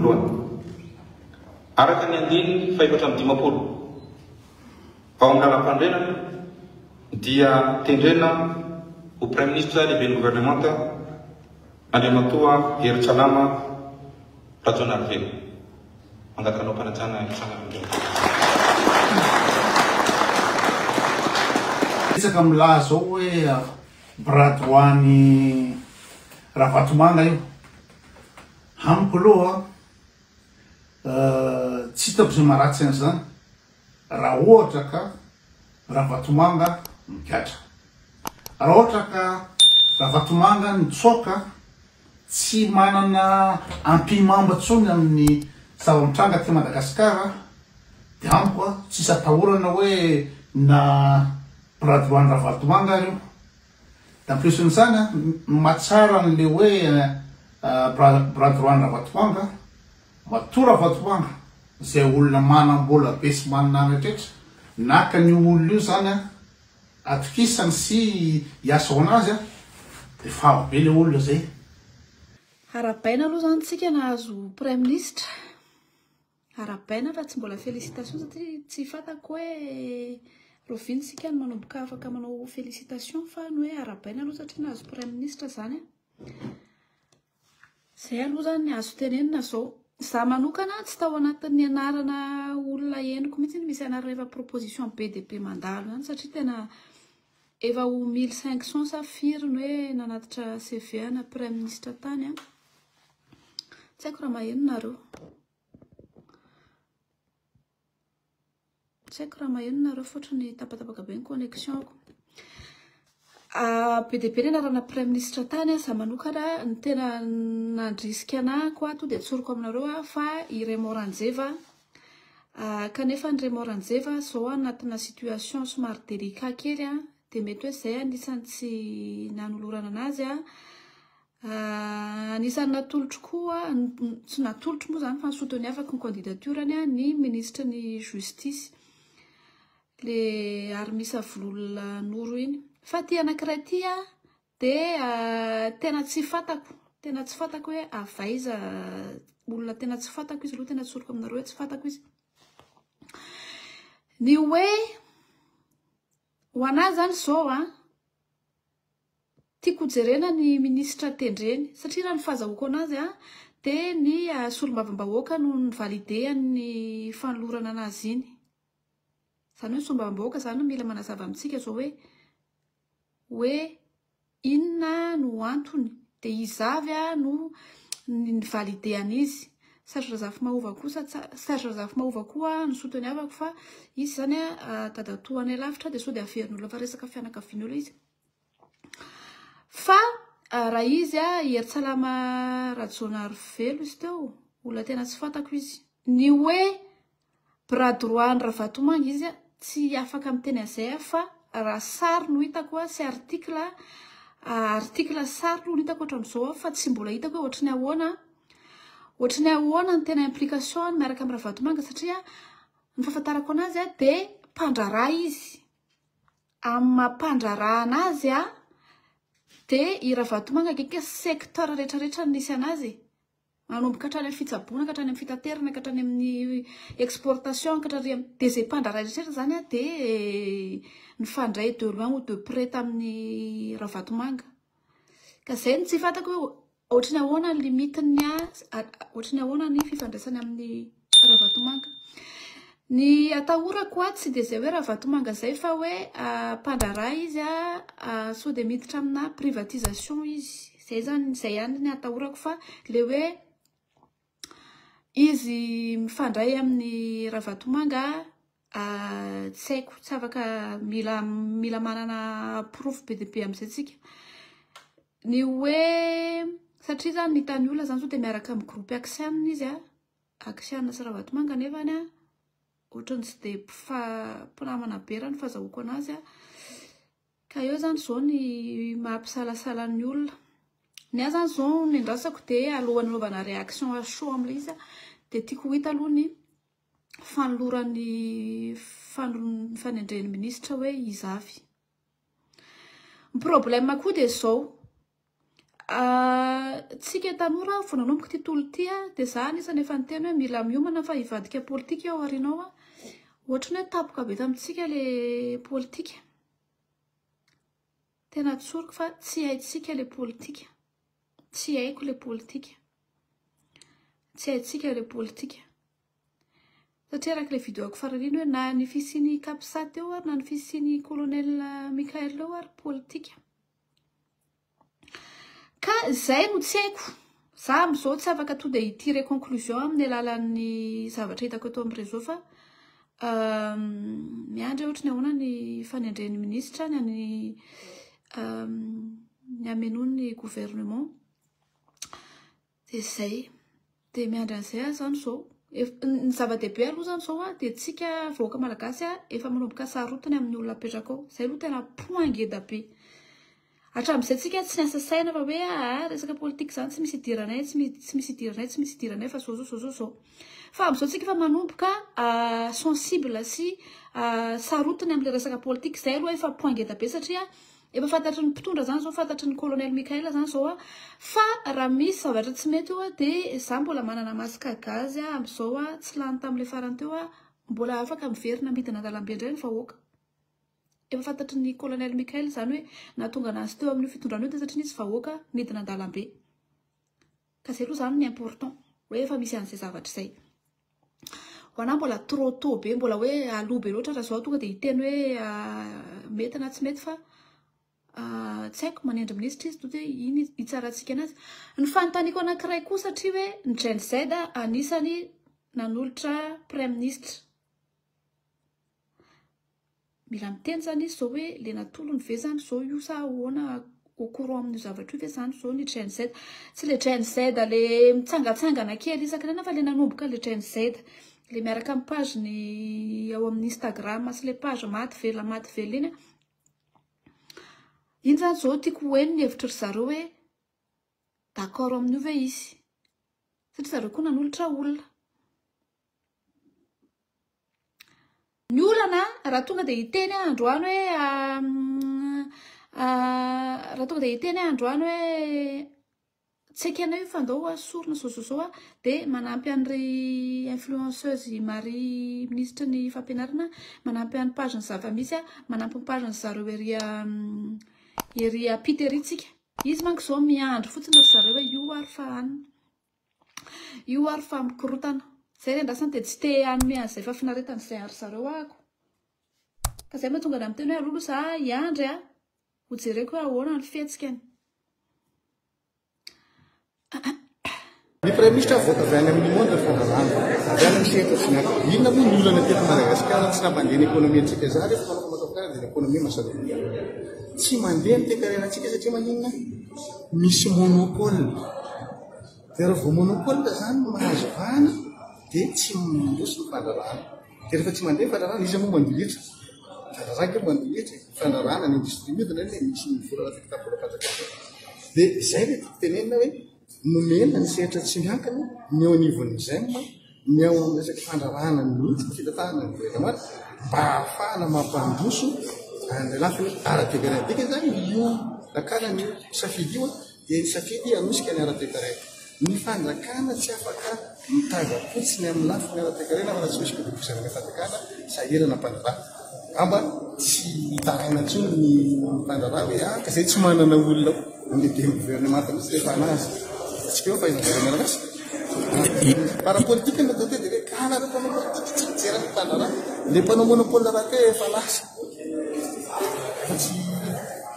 voalohany. Araka ny andininy fahefatra amby dimampolo ao amin'ny Lalampanorenana dia tendrena ho Praiminisitra Lehiben'ny Governemanta Andriamatoa Hery Tsalama Rajaonarivelo. Mangakanao mpanajana hitsangana amin'ireo. Betsaka milaza ao hoe bras droit-n'i Ravatomanga io. Amiko aloha tsy hitako izay maharatsy an'izany raha ohatra ka Ravatomanga migadra. Raha ohatra ka Ravatomanga nitsoaka tsy manana ampihimamba intsony amin'ny zava-mitranga aty Madagasikara dia amiko tsy hisy atahorana hoe na bras droit-n'i Ravalotomanga ary io. En plus n'izany a, mahatsara an'le hoe bras droit n'Ravatoanga, matoa Ravatoanga izay olona manam-bola be sy manana rehetra, naka an'io olona io izany a, atokisany sy hiasa ho anazy a, dia favo be ilay olona izay. Arabaina aloha izany tsika nahazo Praiminisitra. Arabaina fa tsy mbola félicitation satria tsy fatako hoe roviny sika no manomboka afaka manao félicitation fa ny hoe arabaina aloha satria nahazo praiministra zany a. Zay aloha zany ny azo tenenina zao. Za manokana tsy tao anatin'ny anarana olona henoko mihitsy ny misy anarana efa proposition be dia be mandalo ihany satria tena Efa ho mille cinq cent sa firy no hoe nanatitra CV ana praiministra tany an! Tsy haiko raha maheno nareo. Tsy haiko raha maheno nareo fotrony tapatapaka be ny connexion ko. Be dia be ny anarana praiministra tany an! Za manokana ny tena nandrisika anah ko ato dia tsoriko aminareo fa i Raymond Ranjeva. Ah, kanefa an Remo Ranjeva a, zao anatina situation somary délicat kely an, dia mety hoe zay anisany tsy nanolorana anazy an, ah anisany natolotro koa, tsy natolotro moa zany fa ny soutenu afaka ny candidature-ny an, ny ministry ny justice, le Armis Avololona Noro iny, fa ity anakiray ity an, Dia tena tsy fantako, tena tsy fantako hoe avy aiza, olona tena tsy fantako izy ireo, tena tsoriko aminareo hoe tsy fantako izy. Ny hoe ho anà zany izao a, tiako hojerena ny minisitra tendreny satria raha ny fahazahoako an'azy a dia ny solombavambahoaka no ni-valider-ny fanolorana an'azy iny. Izany hoe ny solombavambahoaka izany no mila manazava amintsika izao hoe. hoe inona no antony dia iza avy no ni-valide an'izy. Serge Razafimahova kosa tsa- Serge Razafimahova koa no souteniavako fa izy izany dadatoanay lavitra dia sao dia averin'olona fa resaka fianakavian'olona izy. Fa raha izy i Hery Tsalama Rajaonarivelo izy teo olona tena tsy fantako izy. Ny hoe. Bras droit an'i Ravatomanga izy a, tsy afaka miteny an'izay aho fa raha sary no hitako a sy article a, article sy sary aloha no hitako hatramin'izao aho fa tsy mbola hitako hoe ohatry ny ahoana, ohatry ny ahoana ny tena implication-ny miaraka amin'i Ravatomanga satria ny fahafantarako an'azy a dia mpandraharaha izy, amin'ny maha mpandraharaha an'azy a dia i Ravatomanga akaiky secteur rehetra rehetra nisy an'azy e! Manomboka hatrany amin'ny fitsaboana ka hatrany amin'ny fitaterana ka hatrany amin'ny exportation ka hatrany amin'ny dia izay mpandraharaha rehetra izany dia nifandray de loin ou de près tamin'i Ravatomanga. Ka izay no tsy fantako hoe ohatry ny ahoana ny limite-ny ohatry ny ahoana ny fifandraisany amin'ny. Ravatomanga. Ny atahorako aho tsy dia izay hoe Ravatomanga izay fa hoe mpandraharaha izy sao dia miditra amina privatisation izy. Izay izany, izay ihany ny atahorako fa ilay hoe izy mifandray amin'i Ravatomanga tsy haiko, tsy afaka mila mila manana porofo be dia be amin'izay isika. Ny hoe satria izany ny hitan'ny olona izany sao dia miaraka amin'ny groupe axian izy a. Axiana sy Ravatomanga nefa any an otrany tsy dia mpinamana be raha ny fazahoako anazy an, ka eo zany zao ny maha mpisalasala ny olona, ny ahy zany zao ny andrasako de alohan'ny anaovana réaction à chaud amin'ilay izy an de tiako ho hita aloha ny fanolorany ny fanendreny ministra hoe iza avy. Ny problème koa dia zao, tsika tanora vao nanomboka ity tolona ity dia za anisany efa niteny hoe mila miomana fa hivadika politika aho ary ianao an, ohatry ny hoe tampoka be tamintsika le politika, tena tsoriko fa tsy haintsika le politika, tsy haiko le politika, tsy haintsika le politika. Satria araka ilay video-ko farany iny hoe na ny fisian'i Capsat teo ary na ny fisian'i Colonel Mickaël teo ary politika. Ka izay no tsy haiko. Za amin'izao tsy afaka tonga dia hi-tirer conclusion amin'ny alalan'ny zavatra hitako eto amin'ny réseau fa miandry aho ohatra ny ahoana ny fanendren'ny minisitra any ny ny hamenoany ny gouvernement. Dia izay. Dia miandry an'izay aho izany izao. Ny zava-dehibe aloha izany izao an, dia tsika vahoaka malagasy an, efa manomboka sarotiny amin'ny olona apetraka ao. Izay aloha tena point ngeda be. Hatramin'izay tsika tsy niasa saina fa hoe aa resaka politika izany tsy misy idiranay, tsy mi- tsy misy idiranay, tsy misy idiranay fa izao izao izao izao izao. Fa amin'izao tsika efa manomboka sensible sy sarotiny amin'ilay resaka politika. Izay aloha efa point ngeda be satria. Efa fantatry ny mpitondra zany zao, fantatry ny colonel Mickael zany zao a, fa raha misy zavatra tsy mety eo a, de za mbola manana masque à gaz a, amzao a, tsy lany tamle farany teo a, mbola afaka miverina midina andalambe indray ny vahoaka. Efa fantatry ny colonel Mickael zany hoe nahatonga anazy teo amin'io fitondrana io de satria nisy vahoaka nidina andalambe. Ka zay aloha zany ny important hoe efa misy an'izay zavatra zay. Ho anahy mbola trop tot be, mbola hoe aloha be loatra raha zao tonga dia hiteny hoe mety na tsy mety fa tsy haiko manendry minisitra izy tonga dia iny hitsarantsika anazy. Ny fanontaniako anankiray koa satria hoe ny Gen Z anisany nanolotra praiminisitra. Mila miteny zany izy zao hoe le natolony ve zany zao io sa ahoana au courant amin'io zavatra io ve zany zao ny Gen Z. Tsy le Gen Z le mitsangatsangana kely isaky ny aina fa le nanomboka le Gen Z. Le miaraka amin'ny page-ny ao amin'ny Instagram sy le page maty velona maty velona iny. Iny zany zao tiako ho heno ny hevitry ry zareo hoe d'accord amin'io ve izy satria zareo koa nanolotra olona. Ny olana raha tonga dia hiteny aho androany hoe raha tonga dia hiteny aho androany hoe tsy ekenao io fa andao ho sorona izao izao izao dia manampy an'ir'i influenceuse Marie minisitry ny fampianarana manampy an'ny page ny zava-misy aho, manampy ny page ny zareo ery ery ampita ery tsika. Izy manko izao miandry fotsiny ry zareo hoe io ary fa anona. Io ary fa mikorotana. Zay le andrasany dia tsy te hanome an'izay fahafinaretana izay an-dry zareo ahako. Ka zay no mahatonga anah miteny hoe alolo za hiandry a! Ho jereko hoe ahoana ny fihetsikany. Ny Praiminisitra avoaka avy any amin'ny Monde Fanalana, avy any amin'ny sehatra Fnac. Inona moa ny olana teto Madagasikara tsy nampandeha ny ekonomiantsika zary eto fa maka kajy ny ekonomia masadoria. Tsy mandeha ny toekarenantsika satria maninona? Misy monopole. Dia raha vao monopole izany no mahazo vahana dia tsy mandroso ny fandrarahana. Dia rehefa tsy mandeha ny fandrarahana, iza moa mandoa hetra? Fandrarahana kely mandoa hetra e. Fandrarahana ny industrie mihodina anie dia misy ny vola raha vita vola pajaka koa. Dia izay ilay tiako tenenina hoe nomena ny sehatra tsy miankina ny eo anivon'ny Gem. Ny ao amin'ny resaka fandrarahana mihitsy ny fitantanana ny voretra maty mba hahafahana mampandroso an'ilay lafiny ara-toekarena. Dika izany io dakana ny safidy io dia ny safidy hanosika ny ara-toekarena. Ny fanjakana tsy afaka mitazam-potsiny amin'ny lafiny ara-toekarena fa raha tsy misy fivoizana mitam-piakana sahirana mpandraraha. Angamba tsy hitaraina intsony ny mpandraharaha hoe ah ka izay tsy manana olona handeha ny gouvernemanta mihitsy rehefa anazy. Atsika eo fa eny amin'ny mianakasy. Par rapport politique ny côté dia hoe ka anareo mpanao politique tsy mijery ny mpandraharaha. Ilay mpanao monopole rahateo efa lasa.